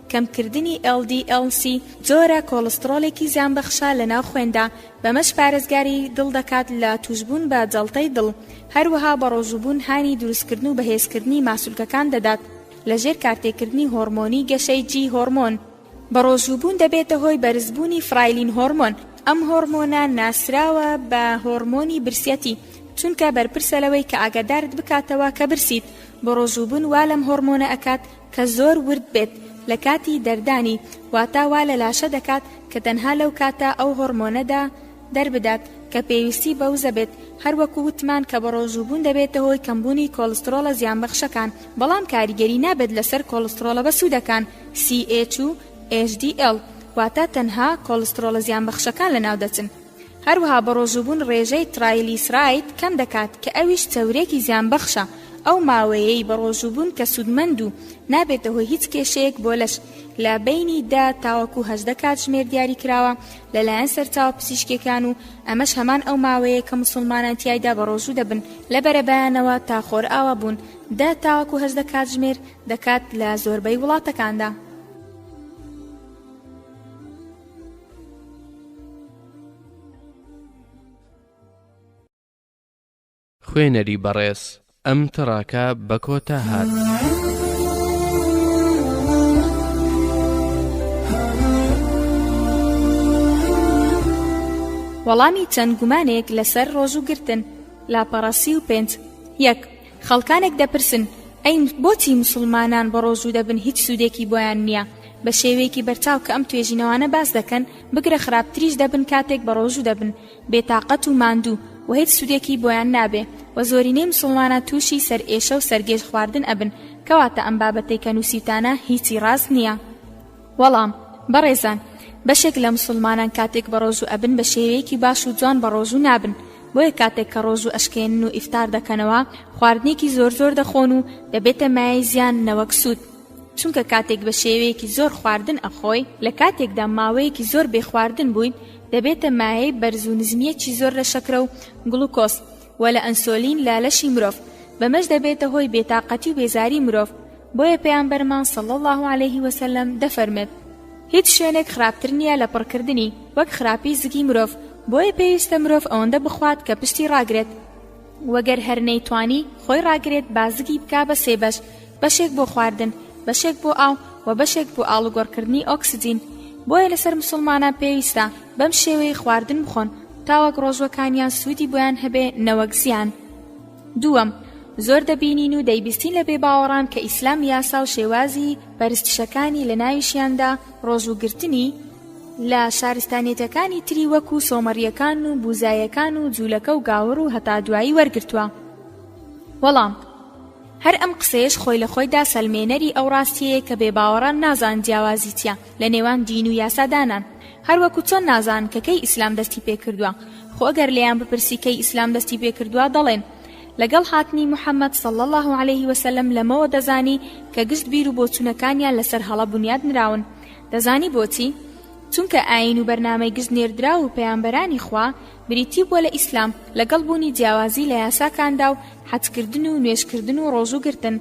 کەمکردنی ئێڵ دی ئێڵ سی جۆرە کۆڵستڕۆڵێکی زیانبەخشە لەناو خوێندا، بەمەش پارێزگاری دڵ دەکات لە تووشبوون بە جەڵتەی دڵ، هەروەها بەڕۆژووبوون هانی دروستکردن و بەهێزکردنی ماسولکەکان دەدات لەژێر کارتێکردنی هۆڕمۆنی گەشەی جی هۆڕمۆن. بەڕۆژووبوون دەبێتە هۆی بەرزبوونی فرایلین هۆڕمۆن، ئەم هۆڕمۆنە ناسراوە بە هۆڕمۆنی برسیەتی چونکە بەرپرسە لەوەی کە ئاگادارت بکاتەوە کە برسیت، بەڕۆژووبوون وا لەم هۆڕمۆنە ئەکات کە زۆر ورد بێت لە کاتی دەردانی واتا وا لە لاشە دەکات کە تەنها لەو کاتە ئەو هۆڕمۆنەدا دەربدات کە پێویستی بە وزە بێت هەر وەکو وتمان کە بەڕۆژووبوون دەبێتە هۆی کەمبوونی کۆڵسترۆڵە زیانبەخشەکان بەڵام کاریگەری نابێت لەسەر کۆڵسترۆڵە بەسوودەکان CHU HDL واتا تەنها کۆڵسترۆڵە زیانبەخشەکان لەناو دەچن. هەروەها بەڕۆژووبوون ڕێژەی ترایلیسراید کەم دەکات کە ئەویش چەورێکی زیانبەخشە، ئەو ماوەیەی بەڕۆژووبوون کە سوودمەند و نابێتە هۆی هیچ کێشەیەک بۆ لەش لە بەینی دە تاوەکو هەژدە کاتژمێر دیاریکراوە لەلایەن سەرچاوە پزیشکیەکان و ئەمەش هەمان ئەو ماوەیە کە موسڵمانان تیایدا بەڕۆژوو دەبن لە بەرەبەیانەوە تا خۆرئاوا بوون دە تاوەکو هەژدە کاتژمێر دەکات لە زۆربەی وڵاتەکاندا. خوێنەری بەڕێز ئەم تڕاکە بە کۆتا هات. وەڵامی چەند گومانێک لەسەر ڕۆژوو گرتن لاپەڕە سی و پێنج یەک خەڵکانێک دەپرسن، ئەی بۆچی موسڵمانان بەڕۆژوو دەبن هیچ سوودێکی بۆیان نییە؟ بە شێوەیەکی بەرچاو کە ئەم توێژینەوانە باس دەکەن، بگرە خراپتریش دەبن کاتێک بەڕۆژوو دەبن، بێتاقەت و ماندوو و هیچ سوودێکی بۆیان نابێ و زۆرینەی موسڵمانان تووشی سەرئێشە و سەرگێژ خواردن ئەبن، کەواتە ئەم بابەتەی کە نووسیوتانە هیچی ڕاست نییە. وەڵام، بەڕێزان، بەشێک لە مسوڵمانان کاتێک بەڕۆژوو ئەبن بە شێوەیەکی باش و جوان بەڕۆژوو نابن، بۆیە کاتێک کە ڕۆژوو ئەشکێنن و ئیفتار دەکەنەوە خواردنێکی زۆر زۆر دەخۆن و دەبێتە مایەی زیان نەوەک سوود، چونکە کاتێک بە شێوەیەکی زۆر خواردن ئەخۆی، لە کاتێکدا ماوەیەکی زۆر بێ خواردن بوویت دەبێتە مایەی بەرز و نزمیەکی زۆر لە شەکرە و گڵوکۆز، و لە ئەنسۆلین لە لەشی مرۆڤ، بەمەش دەبێتە هۆی بێتاقەتی و بێزاری مرۆڤ، بۆیە پێامبەرمان صلی اللە علیە وسلم دەفەرمێت، هیچ شوێنێک خراپتر نیە لە پڕکردنی، وەک خراپی زگی مرۆڤ، بۆیە پێویستە مرۆڤ ئەوەندە بخوات کە پشتی ڕاگرێت، وەگەر هەر نەیتوانی خۆی ڕاگرێت با زگی بکا بە سێ بەش، بەشێک بۆ خواردن بەشێک بۆ ئاو و بەشێک بۆ ئاڵوگۆڕکردنی ئۆکسجین بۆیە لەسەر مسوڵمانان پێویستە بەم شێوەیەی خواردن بخۆن تاوەک ڕۆژوەکانیان سوودی بۆیان هەبێ نەوەک زیان دووەم زۆر دەبینین و دەیبیستین لە بێباوەڕان کە ئیسلام یاسا و شێوازی پەرستشەکانی لە ناویشیاندا ڕۆژووگرتنی لە شارستانیەتەکانی تری وەکو سۆمەڕیەکان و بوزایەکان و جوولەکە و گاوڕ و هەتا دوایی وەرگرتووە وەڵام هەر ئەم قسەیەش خۆی لە خۆیدا سەلمێنەری ئەو ڕاستیەیە کە بێباوەڕان نازان جیاوازی چیە لە نێوان دین و یاسا دانان هەر وەکو چۆن نازان کە کەی ئیسلام دەستی پێ کردوە خۆ گەر لێیان بپرسی کەی ئیسلام دەستی پێ کردوە دەڵێن لەگەڵ هاتنی محمد صلی اللە علیه وسلم لەمەوە دەزانی کە گشت بیر و بۆچونەکانیان لەسەر هەڵە بنیاد نراون دەزانی بۆچی چونکە ئاین و بەرنامەی گشت نێردراو و پەیامبەرانی خوا بریتی بووە لە ئیسلام لەگەڵ بوونی جیاوازی لە یاساکاندا و حەجکردن و نوێژکردن و ڕۆژووگرتن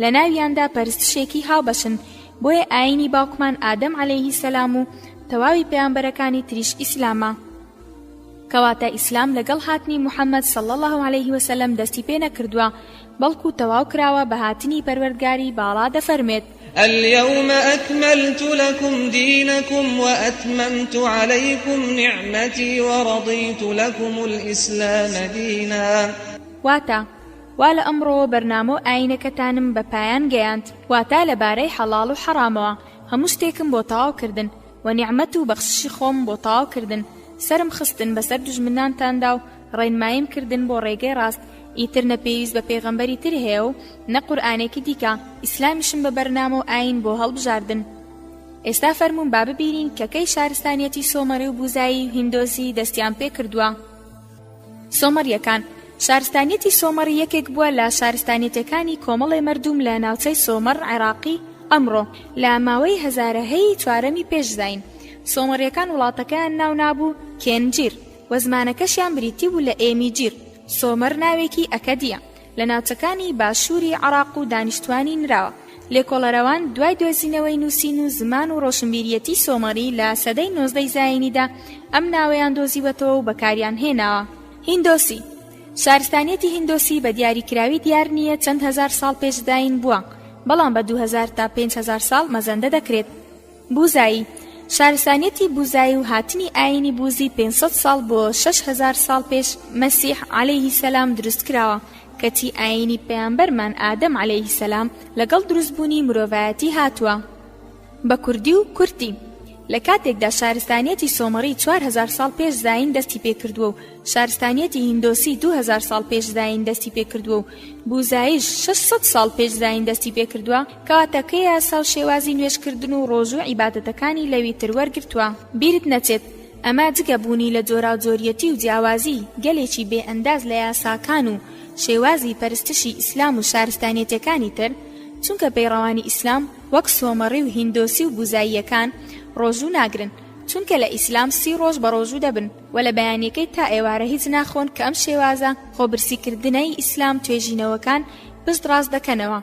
لەناویاندا پەرستشێکی هاوبەشن بۆیە ئاینی باوکمان ئادەم عەلەیهی سەلام و تەواوی پەیامبەرەکانی تریش ئیسلامە کەواتە ئیسلام لەگەڵ هاتنی محمد صلی اللە علیه وسلم دەستی پێ نەکردووە بەڵکو تەواو کراوە بە هاتنی پەروەردگاری باڵا دەفەرمێت. الیوم اکملت لکم دینکم و اتممت علیکم نعمتی و رضیت لکم الاسلام دینا. واتە، وا لە ئەمڕۆوە بەرنامە و ئایینەکەتانم بە پایان گەیاند، واتە لە بارەی حەڵاڵ و حەڕامەوە، هەموو شتێکم بۆ تەواو کردن، وە نیعمەت و بەخششی خۆم بۆ تەواو کردن، سەرم خستن بەسەر دوژمنانتاندا و ڕێنماییم کردن بۆ ڕێگەی ڕاست ئیتر نە پێویست بە پێغەمبەری تر هەیە و نە قورئانێکی دیکە ئیسلامیشم بە بەرنامە و ئایین بۆ هەڵبژاردن ئێستا فەرموون با ببینین کە کەی شارستانیەتی سۆمەری و بوزایی و هیندۆسی دەستیان پێ کردووە سۆمەریەکان شارستانیەتی سۆمەڕی یەکێک بووە لە شارستانیەتەکانی کۆمەڵی مردوم لە ناوچەی سۆمەڕ عێراقی ئەمڕۆ لە ماوەی هەزارەهەیە چوارەمی پێشزین سۆمەڕیەکان وڵاتەکەیان ناونابوو کێنجیر و زمانەکەشیان بریتی بوو لە ئێمی جیر، سۆمەر ناوێکی ئەکەدییە لە ناوچەکانی باشووری عەڕاق و دانیشتوانی نراوە. لێکۆڵەرەوان دوای دۆزینەوەی نووسین و زمان و ڕۆشنبیریەتی سۆمەڕی لە سەدەی نۆزدەی زایینیدا ئەم ناوەیان دۆزیوەتەوە و بەکاریان هێناوە. هیندۆسی، شارستانیەتی هیندۆسی بە دیاریکراوی دیار نییە چەند هەزار ساڵ پێش زایین بووە، بەڵام بە دوو هەزار تا پێنج هەزار ساڵ مەزەندە دەکرێت. بوزایی، شارستانیەتی بوزایی و هاتنی ئایینی بوزی پێنج سەد ساڵ بۆ شەش هەزار ساڵ پێش مەسیح عەلەیه سەلام دروست کراوە، کەچی ئایینی پەیامبەرمان ئادەم عەلەیه سەلام لەگەڵ دروست بوونی مرۆڤایەتی هاتووە. بە کوردی و کورتی. لە کاتێکدا شارستانیەتی سۆمەڕی چوار هەزار ساڵ پێش زایین دەستی پێ کردووە و شارستانیەتی هیندۆسی دوو هەزار ساڵ پێش زایین دەستی پێ کردووە و بوزاییش شەش سەد ساڵ پێش زایین دەستی پێ کردووە، کاتەکەی یاسا و شێوازی نوێژ کردن و ڕۆژوو عیبادەتەکانی لەوی تر وەرگرتووە بیرت نەچێت ئەمە جگە بوونی لە جۆراوجۆریەتی و جیاوازی گەلێکی بێ ئەنداز لە یاساکان و شێوازی پەرستشی ئیسلام و شارستانیەتەکانی تر چونکە پەیڕەوانی ئیسلام وەک سۆمەڕی و هیندۆسی و بوزاییەکان ڕۆژوو ناگرن چونکە لە ئیسلام سی ڕۆژ بە ڕۆژوو دەبن و لە بەیانیەکەی تا ئێوارە هیچ ناخۆن کە ئەم شێوازە خۆبرسی کردنەی ئیسلام توێژینەوەکان پشت ڕاست دەکەنەوە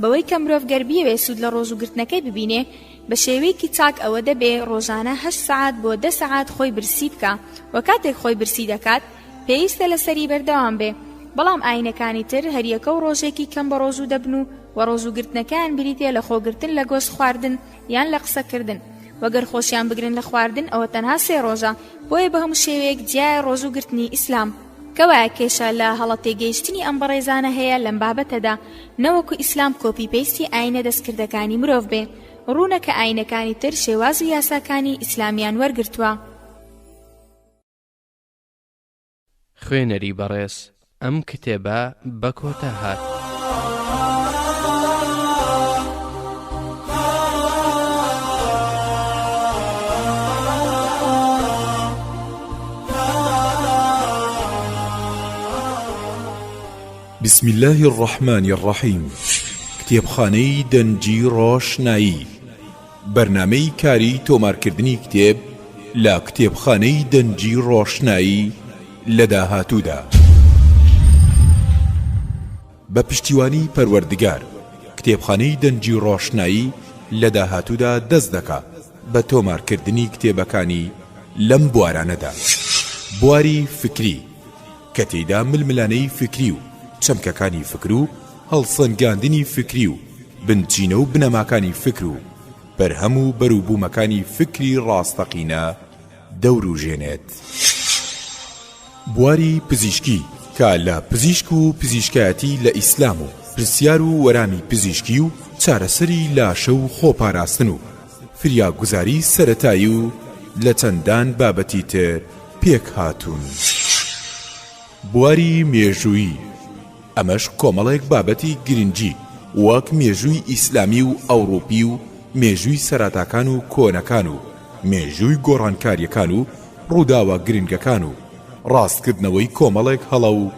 بەوەی کە مرۆڤ گەر بیەوێ سوود لە ڕۆژوو گرتنەکەی ببینێ بە شێوەیەکی چاک ئەوە دەبێ ڕۆژانە هەشت سەعات بۆ دە سەعات خۆی برسی بکا و کاتێک خۆی برسی دەکات پێویستە لەسەری بەردەوام بێ بەڵام ئاینەکانی تر هەریەکە و ڕۆژێکی کەم بە ڕۆژوو دەبن و و ڕۆژوو گرتنەکەیان بریتێ لە خۆگرتن لە گۆشت خواردن یان لە قسەکردن وەگەر خۆشیان بگرن لە خواردن ئەوە تەنها سێ ڕۆژە بۆیە بە هەموو شێوەیەک جیایە ڕۆژوو گرتنی ئیسلام کەوایە کێشە لە هەڵە تێگەیشتنی ئەم بەڕێزانە هەیە لەم بابەتەدا نەوەکو ئیسلام کۆپی پەیستی ئاینە دەستکردەکانی مرۆڤ بێ ڕوونە کە ئاینەکانی تر شێواز و یاساکانی ئیسلامیان وەرگرتووە خوێنەری بەڕێز ئەم کتێبە بە کۆتا هات. بسم اللە الرحمن الرحیم کتێبخانەی دەنگی ڕۆشنایی بەرنامەی کاری تۆمارکردنی کتێب لە کتێبخانەی دەنگی ڕۆشنایی لە داهاتوودا. بە پشتیوانی پەروەردگار کتێبخانەی دەنگی ڕۆشنایی لە داهاتوودا دەست دەکا بە تۆمارکردنی کتێبەکانی لەم بوارانەدا بواری فکری کە تێیدا ململانێی فکری و چەمکەکانی فکر و هەڵسەنگاندنی فکری و بنچینە و بنەماکانی فکر و بەرهەم و بەروبوومەکانی فکری ڕاستەقینە دەوروژێنێت. بواری پزیشکی کە لە پزیشک و پزیشکایەتی لە ئیسلام و پرسیار و وەرامی پزیشکی و چارەسەری لاشە و خۆپاراستن و فریاگوزاری سەرەتایی و لە چەندان بابەتی تر پێکهاتوون. بواری مێژوویی. ئەمەش کۆمەڵێک بابەتی گرنگی وەک مێژووی ئیسلامی و ئەوڕوپی و مێژووی سەراتاکان و کۆنەکان و مێژووی گۆڕانکاریەکان و ڕووداوە گرنگەکان و ڕاستکردنەوەی کۆمەڵێک هەڵە و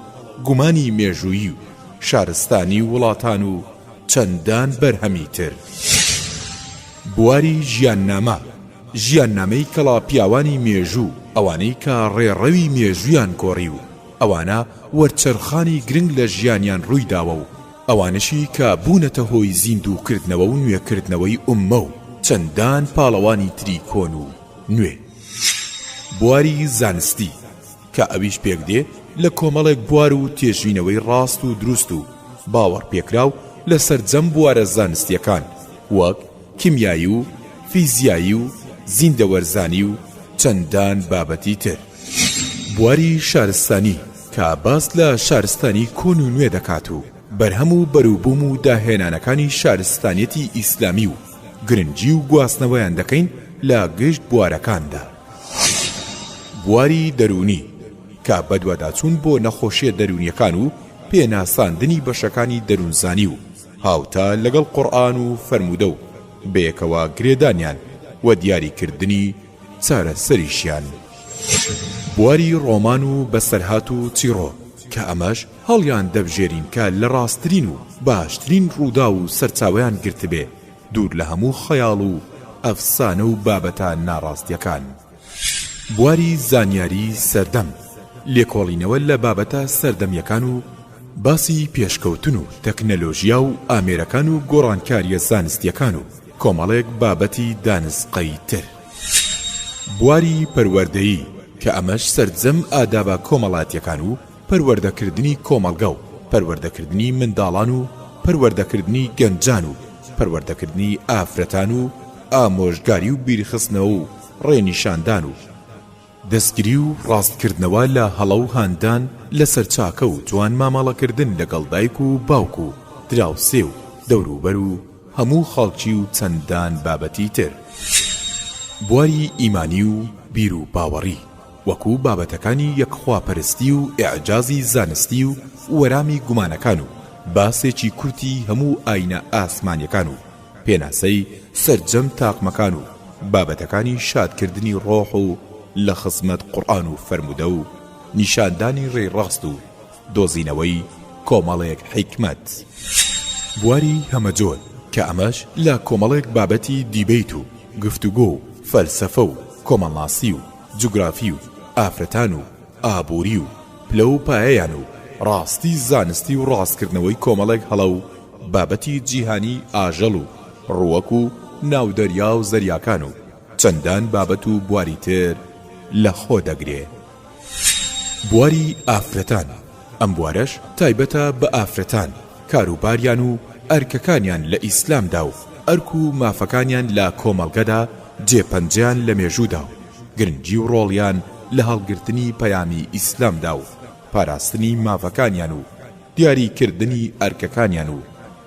گومانی مێژوویی و شارستانی وڵاتان و چەندان بەرهەمی تر. بواری ژیاننامە، ژیاننامەی کەڵا پیاوانی مێژوو ئەوانەی کە ڕێڕەوی مێژوویان گۆڕی و، ئەوانە وەرچەرخانی گرنگ لە ژیانیان ڕووی داوە و ئەوانەشی کە بوونەتە هۆی زیندوو کردنەوە و نوێ کردنەوەی ئوممە و چەندان پاڵەوانی تری کۆن و نوێ. بواری زانستی کە ئەویش پێک دێ لە کۆمەڵێک بوار و تێژینەوەی ڕاست و دروست و باوەڕ پێکراو لە سەرجەم بوارە زانستیەکان وەک کیمیایی و فیزیایی و زیندەوەرزانی و چەندان بابەتی تر. بواری شارستانی کە باس لە شارستانی کۆن و نوێ دەکات و بەرهەم و بەروبووم و داهێنانەکانی شارستانیەتی ئیسلامی و گرنگی و گواستنەوەیان دەکەین لە گشت بوارەکاندا. بواری دەروونی کە بەدواداچوون بۆ نەخۆشیە دەروونیەکان و پێناساندنی بەشەکانی دەروونزانی و هاوتا لەگەڵ قورئان و فەرموودە و بەیەکەوە گرێدانیان و دیاریکردنی چارەسەریشیان بواری ڕۆمان و بەسەرهات و چیڕۆ کە ئەمەش هەڵیان دەبژێرین کە لە ڕاستترین و باشترین ڕووداو و سەرچاوەیان گرتبێ دوور لە هەموو خەیاڵ و ئەفسانە و بابەتە ناڕاستیەکان بواری زانیاری سەردەم لێکۆڵینەوە لە بابەتە سەردەمیەکان و باسی پێشکەوتن و تەکنەلۆژیا و ئامێرەکان و گۆڕانکاریە زانستیەکان و کۆمەڵێک بابەتی دانسقەی تر بواری پەروەردەیی کە ئەمەش سەرجەم ئادابە کۆمەڵاتیەکان و پەروەردەکردنی کۆمەڵگە و پەروەردەکردنی منداڵان و پەروەردەکردنی گەنجان و پەروەردەکردنی ئافرەتان و ئامۆژگاری و بیرخستنەوە و ڕێنیشاندان و دەستگری و ڕاستکردنەوە لە هەڵە و هاندان لەسەر چاکە و جوان مامەڵەکردن لەگەڵ دایک و باوک و دراوسێ و دەوروبەر و هەموو خەڵکی و چەندان بابەتی تر بواری ئیمانی و بیروباوەڕی وەکو بابەتەکانی یەکخواپەرستی و ئیعجازی زانستی و وەرامی گومانەکان و باسێکی کورتی هەموو ئاینە ئاسمانیەکان و پێناسەی سەرجەم تاقمەکان و بابەتەکانی شادکردنی ڕۆح و لە خزمەت قوڕئان و فەرموودە و نیشاندانی ڕێی ڕاست و دۆزینەوەی کۆمەڵێک حیکمەت بواری هەمەجۆر کە ئەمەش لە کۆمەڵێک بابەتی دیبەیت و گفتوگۆ و فەلسەفە و کۆمەڵناسی و جوگرافی و ئافرەتان و ئابووری و پلە و پایەیان و ڕاستی زانستی و ڕاستکردنەوەی کۆمەڵێک هەڵە و بابەتی جیهانیی ئاژەڵ و ڕووەک و ناودەریا و زەریاکان و چەندان بابەت و بواری تر لە خۆ دەگرێ. بواری ئافرەتان ئەم بوارەش تایبەتە بە ئافرەتان کاروباریان و ئەرکەکانیان لە ئیسلامدا و ئەرک و مافەکانیان لە کۆمەڵگەدا جێ پەنجەیان لە مێژوودا و گرنگی و ڕۆڵیان لە هەڵگرتنی پەیامی ئیسلامدا و پاراستنی مافەکانیان و دیاری کردنی ئەرکەکانیان و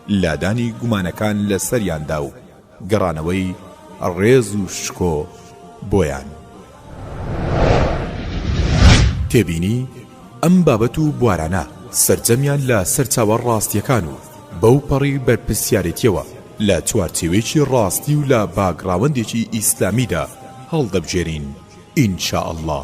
لادانی گومانەکان لە سەریاندا و گەڕانەوەی ڕێز و شکۆ بۆیان. تێبینی، ئەم بابەت و بوارانە سەرجەمیان لە سەرچاوە ڕاستییەکان و بەو پەڕی بەرپرسیارێتییەوە لە چوارچێوەیەکی ڕاستی و لە باگڕاوەندێکی ئیسلامیدا هەڵدەبژێرین ان شاءاللە.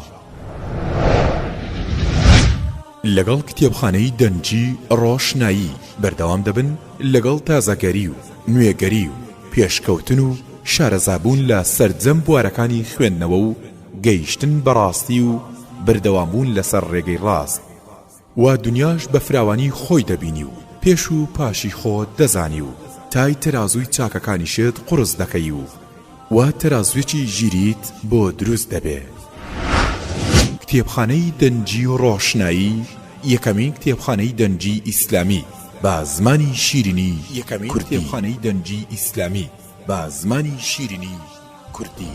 لەگەڵ کتێبخانەی دەنگی ڕۆشنایی بەردەوام دەبن لەگەڵ تازەگەری و نوێگەری و پێشکەوتن و شارەزابوون لە سەرجەم بوارەکانی خوێندنەوە و گەیشتن بە ڕاستی و بەردەوامبوون لەسەر ڕێگەی ڕاست و دنیاش بە فراوانی خۆی دەبینی و پێش و پاشی خۆت دەزانی و تای تەرازووی چاکەکانیشت قوڕس دەکەی و وا تەرازوێکی ژیریت بۆ دروست دەبێ. کتێبخانەی دەنگی و ڕۆشنایی یەکەمین کتێبخانەی دەنگی ئیسلامی بە زمانی شیرینی کوردی.